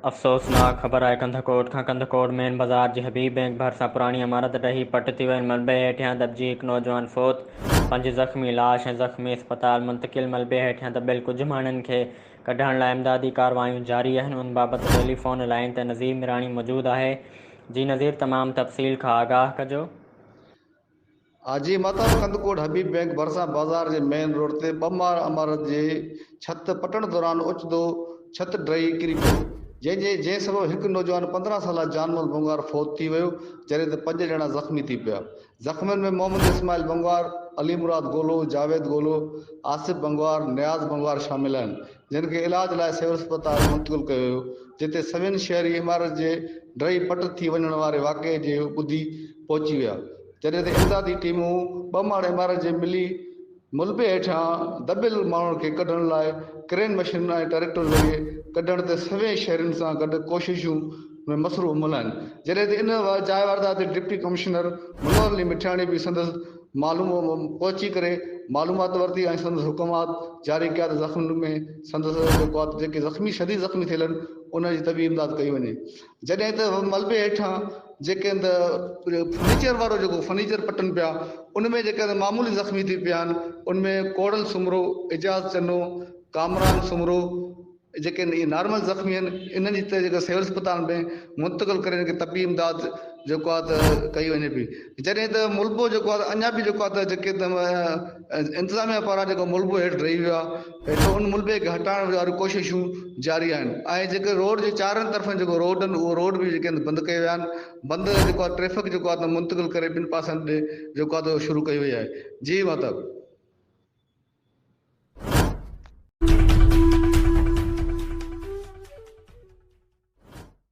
افسوسناڪ خبر آهي ڪنڌڪوٽ کان ڪنڌڪوٽ مين بازار جي حبيب بئنڪ ڀرسان پراڻي عمارت ڊهي پٽ ٿي ويل ملبي هيٺيان دٻجي هڪ نوجوان فوت پنج زخمي لاش ۽ زخمي اسپتال منتقل ملبي هيٺيان دٻيل ڪجهه ماڻهن کي ڪڍڻ لاء امدادي ڪارروايون جاري آهن ان بابت ٽيلي فون لائين تي نظير ميراڻي موجود آهي جي نظير تمام تفصيل کان آگاهه ڪجو. حاجي مهتاب ڪنڌڪوٽ حبيب بئنڪ ڀرسان بازار جي مين روڊ تي ٻه ماڙ عمارت جي ڇت پٽڻ دوران اوچتو ڇت ڊهي ڪري پيو جنهن جي جنهن سبب هڪ نوجوان پندرهن سالا جانمل بنگار فوت ٿي ويو جڏهن ته پنج ڄڻا زخمي ٿي پيا زخمين ۾ محمد اسماعيل بنگار علي مراد گولو جاويد گولو آصف بنگار نياز بنگار شامل آهن جن کي علاج لاء سول اسپتال منتقل ڪيو ويو جتي سوين شهري عمارت جي ڊهي پٽ ٿي وڃڻ واري واقعي جي ٻڌي پهچي ويا، جڏهن ته امدادي ٽيمون ٻه ماڙ عمارت جي ملي ملبي هيٺيان دٻيل ماڻهن کي ڪڍڻ لاء ڪرين مشينن ۽ ٽريڪٽر ذريعي ڪڍڻ تي سوين شهرين سان گڏ ڪوششون ۾ مصروف ملهه آهن، جڏهن ته ان جاء واردات تي ڊپٽي ڪمشنر منور علي مٺياڻي به سندس پهچي ڪري معلومات ورتي ۽ سندس حڪمات جاري ڪيا ته زخمين ۾ سندس جيڪي زخمي شديد زخمي ٿيل آهن انهن جي طبي امداد ڪئي وڃي. جڏهن ته ملبي هيٺان جيڪي هنڌ فرنيچر وارو جيڪو فرنيچر پٽن پيا ان ۾ جيڪي هنڌ معمولي زخمي ٿي پيا آهن ان ۾ ڪوڙل سومرو، اعجاز چنو، ڪامران سومرو جيڪي هنڌ اهي نارمل زخمي آهن انهن جي ته جيڪو سول اسپتال ۾ منتقل ڪري ان کي طبي امداد جيڪو آهي ته ڪئي وڃي پئي جڏهن ته ملبو جيڪو آهي ته اڃان به جيڪو آهي ته جيڪي انتظاميا پاران جيڪو ملبو هيٺ ڊهي ويو آهي هيٺ ان ملبي کي هٽائڻ واريون ڪوششون جاري آهن ۽ جيڪي روڊ جي چارن طرفن جيڪو روڊ آهن اهي روڊ به جيڪي بند ڪيا ويا آهن بند جيڪو آهي ٽريفڪ جيڪو آهي منتقل ڪري ٻن پاسن ڏي جيڪو آهي اهو شروع ڪئي وئي آهي جي مطلب